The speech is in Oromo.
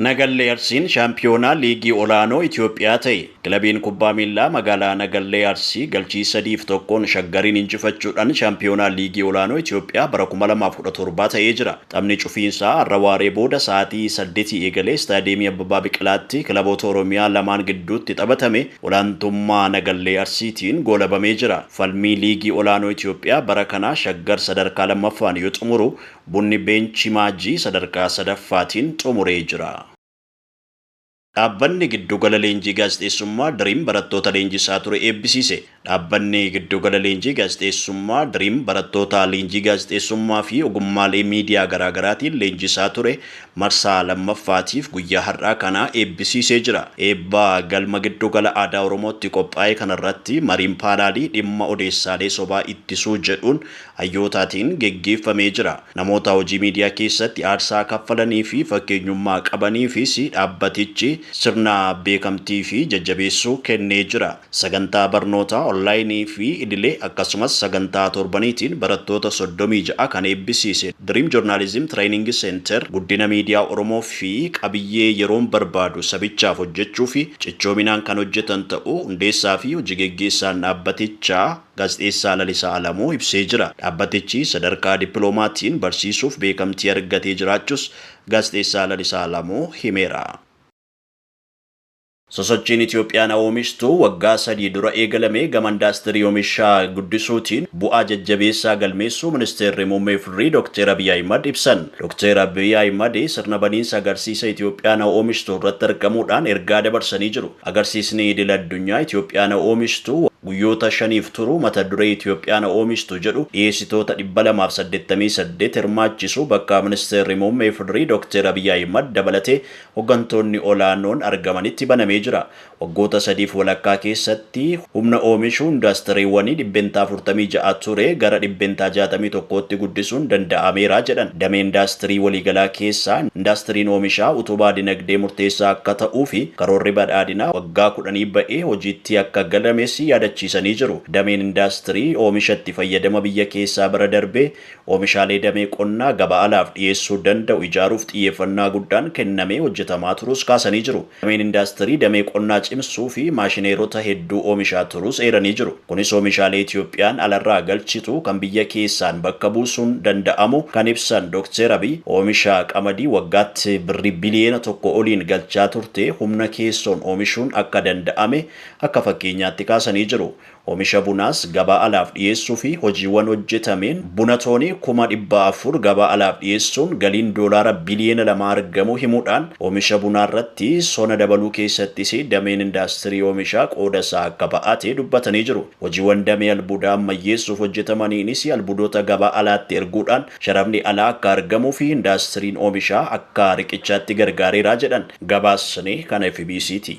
Nagallee Arsiin shaampiyoonaa liigii olaanoo Itoophiyaa ta'e. Kilabiin kubbaa miillaa magaalaa Nagallee Arsii galchii 3 fi 1n Shaggariin injifachuudhan shaampiyoonaa liigii olaanoo Itoophiyaa bara 2017 ta'ee jira. Taphni cufiinsaa har'a waaree booda sa'aatii 8:00 eegalee Istaadiyeemii Abbabaa Biqilaatti kilaboota Oromiyaa lamaan gidduutti taphatame olaantummaa Nagallee Arsiitiin goolabamee jira. Falmii liigii olaanoo Itoophiyaa bara kanaa Shaggar sadarkaa 2ffaan yoo xumuru Bunni Beenchi Maajii sadarkaa 3ffaatiin xumuree jira. Dhaabbanni Giddugala Leenjii Gaazexeessummaa Dream barattoota leenjisaa ture eebbisiise. Dhaabbanni Giddugala Leenjii Gaazexeessummaa Dream barattoota leenjii gaazexeessummaa fi ogummaalee miidiyaa garaa garaatiin leenjisaa ture marsaa 2ffaatiif guyyaa har'aa kana eebbisiisee jira. Eebba Galma Giddugala Aadaa Oromootti qophaa'e kanarratti mariin paanaalii dhimma odeessaalee sobaa ittisuu jedhuun hayyootaatiin geggeeffamee jira. Namoota hojii miidiyaa keessatti aarsaa kaffalanii fi fakkeenyummaa qabaniifis dhaabbatichi sirna beekamtii fi jajjabeessuu kennee jira. Sagantaa barnootaa onlaayinii fi idilee akkasumas sagantaa torbaniitiin barattoota 36 kan eebbisiise Dream Journalism Training Center guddina miidiyaa Oromoo fi qabiyyee yeroon barbaadu sabichaaf hojjechuuf cichoominaan kan hojjetan ta'uu hundeessaa fi hojigeggeessaan dhaabbatichaa Gaazexeessaa Lalisaa Alamuu ibsee jira. Dhaabbatichi sadarkaa dippiloomaatiin barsiisuuf beekamtii argatee jiraachuus Gaazexeessaa Lalisaa Alamuu himeera. Sosochiin Itiyoophiyaan haoomishtu waggaa sadii dura eegalame gama indaastirii omishaa guddisuutiin bu'aa jajjabeessaa galmeessuu Ministeerri Muummee FDRI Dokteer Abiy Ahimad ibsan. Dokteer Abiy Ahimad sirna baniinsa agarsiisa Itiyoophiyaan haoomishtu irratti argamuudhaan ergaa dabarsanii jiru. Agarsiisni idil addunyaa Ityoophiyaa na oomishtu guyyoota shaniif turu mata duree Ityoophiyaa na oomishtu jedhu dhiyeessitoota dhibba lamaa fi saddeettamii saddeet hirmaachisu bakka Ministeerri Muummee Ifdri Dokteer Abiy Ahimad dabalatee hoggantoonni olaanoon argamanitti banamee jira. Waggoota sadiif walakkaa keessatti. Humna oomishuu indaastiriiwwanii dhibbentaa afurtamii ja'a ture gara dhibbentaa jaatamii tokkootti guddisuun danda'ameera jedhan. Damee indaastirii waliigalaa keessaa indaastiriin oomishaa utubaa dinagdee murteessaa akka ta'uufi karoorri badhaadhinaa waggaa kudhanii ba'ee hojiitti akka galames yaadachiisanii jiru. Dameen indaastirii oomisha itti fayyadama biyya keessaa bira darbee oomishaalee damee qonnaa gabaa alaaf dhiyeessuu danda'u ijaaruuf xiyyeeffannaa guddaan kennamee hojjetamaa turuus kaasanii jiru. Dameen indaastirii damee qonnaa cimsuu fi maashineerota hedduu oomishaa turuus eeranii jiru. Kunis oomishaalee Itiyoophiyaan alarraa galchitu kan biyya keessaan bakka buusuun danda'amuu kan ibsan Dokteer Abiy, oomisha qamadii waggaatti birrii biliyeena tokko oliin galchaa turte humna keessoon oomishuun akka danda'ame akka fakkeenyaatti kaasanii jiru. Omisha bunaas gabaa alaaf dhiyeessuufi hojiiwwan hojjetameen buna toonii kuma dhibba afur gabaa alaaf dhiyeessuun galiin doolaara biliyeena lamaa argamuu himuudhaan, omisha bunaarratti sona dabaluu keessattis dameen indaastirii omishaa qoodasaa akka ba'ate dubbatanii jiru. Hojiiwwan damee albuudaa ammayyeessuuf hojjetamaniinis albuudota gabaa alaatti erguudhaan sharafni alaa akka argamuufi indaastiriin omishaa akka riqichaatti gargaareera jedhan. Gabaasni kan fbc ti.